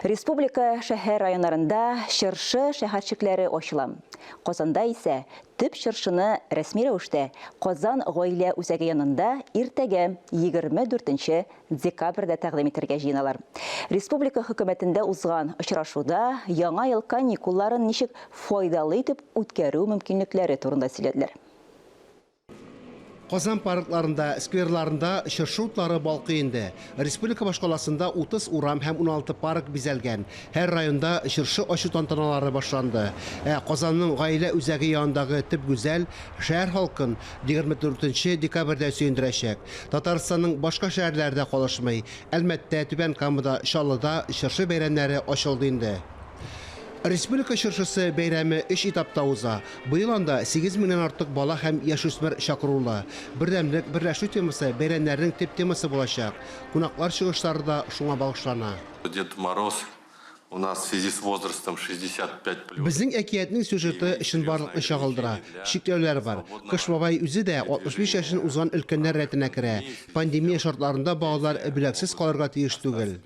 Республика шәһәр районнарында чыршы шәһәрчекләре ачыла. Казанда исә төп чыршыны рәсми рәвештә Казан гаилә үзәге янында иртәгә 24 декабрьдә тәкъдим итәргә җыеналар. Республика хөкүмәтендә узган очрашуда яңа ел каникулларын ничек файдалы итеп үткәрү мөмкинлекләре турында сөйләделәр. Казан паркларында, скверларында чыршы утлары балкый инде. Республика башкаласында 30 урам һәм 16 парк бизәлгән. Һәр районда чыршы ачу тантаналары башланды. Ә Казанның Гаилә үзәге янындагы төп гүзәл, шәһәр халкын 24 нче декабрьдә сөендерәчәк. Татарстанның башка шәһәрләре дә калышмый, Әлмәттә, Түбән Камада, Чаллыда чыршы бәйрәмнәре ачылды инде. Республика чыршысы бәйрәме өч этапта уза. Быел анда сигез меңнән артык бала һәм яшүсмер чакырулы. Бердәмлек, берләшү темасы бәйрәмнәрнең төп темасы булачак. Кунаклар чыгышлары да шуңа багышлана. Дед Мороз у нас в связи с возрастом 65 плюс. Безнең әкиятнең сюжеты чынбарлыкны чагылдыра. Чикләүләр бар. Кыш бабай үзе дә 65 яшен узган өлкәннәр рәтенә керә. Пандемия шартларында балалар бүләксез калырга тиеш түгел.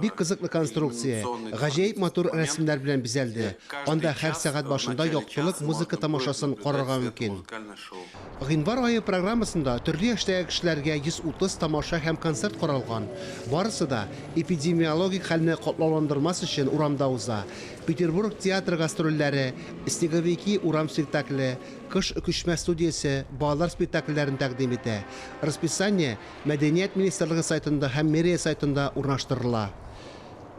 Бик кызыклы конструкция, гаҗәеп матур рәсемнәр белән бизәлде. Анда һәр сәгать башында яктылык музыка тамашасын карарга мөмкин. Гыйнвар ае программасында төрле яшьтәге кешеләргә 130 тамаша һәм концерт каралган. Барысы да, эпидемиологик хәлне катлауландырмас өчен, урамда уза. Петербург театры гастрольләре, Снеговики урам спектакле, Кыш өкешмә студиясе балалар спектакльләрен тәкъдим итә. Расписание Мәдәният министрлыгы сайтында һәм мэрия сайтында урнаштырыла.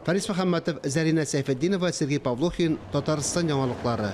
Фарис Мөхәммәтов, Зәринә Сәйфетдинова, Сергей Павлухин, Татарстан яңалыклары.